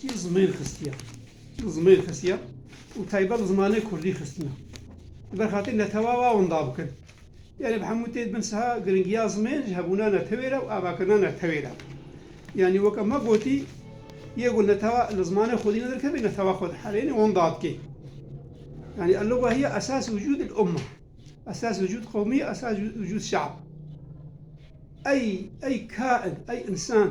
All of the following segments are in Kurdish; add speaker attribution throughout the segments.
Speaker 1: Jî zimêr xistiye. Zimêr xistiye û taybet li zimanê kurdî xistine. Li ber xatirî netewawa winda bikin. Yanî bi hemû tê dibin siha giringiya zimên ji hebûna netewê re û avakirina netewê re. Yanî weke me gotî yê ku netewa li zimanê xwedî nedirkevê netewa xwe diherênê winda dikê. Yanî elluga hiye esas wicûd il umma. Esas wicûd qewmî, esas wicûd şeab. Ey ey kain, ey însan.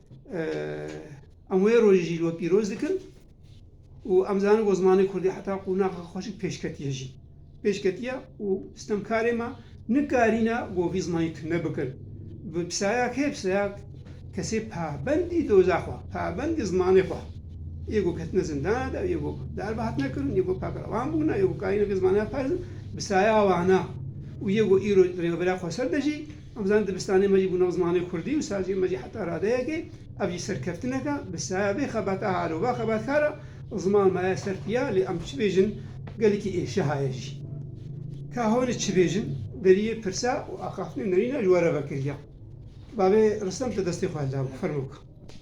Speaker 1: Em wê rojê jî li we pîroz dikin û em zanin ku zimanê Kurdî heta qûnaxa xwe jî pêş ketiye jî. Pêş ketiye û stemkarê me nikarîne ku vî zimanî tune bikin. Bi pisaya kê? Pisaya kesê pabendî doza xwe, pabendî zimanê xwe. Yê ku ketine zindana de, yê ku darbe hatine kirin, yê ku pakrevan bûne, yê ku karîne vê zimanê xwe parêzin, pisaya wan e. Û yê ku îro li Rêveberiya Xweser de jî Em dizanin dibistanê me jî bû nav zimanê kurdî û saziyên me jî heta radeyekê ev jî serkeftinek e. Bi saya vê xebata halova xebatkar a ziman maye ser piya lê em çi bêjin gelekî ê şehaye jî. Ka honi çi bêjin deriyê pirsa û axaftinê nerîna ji we re vekiriya. Bavê Ristem te destê xwe hildabû. Fermo bike.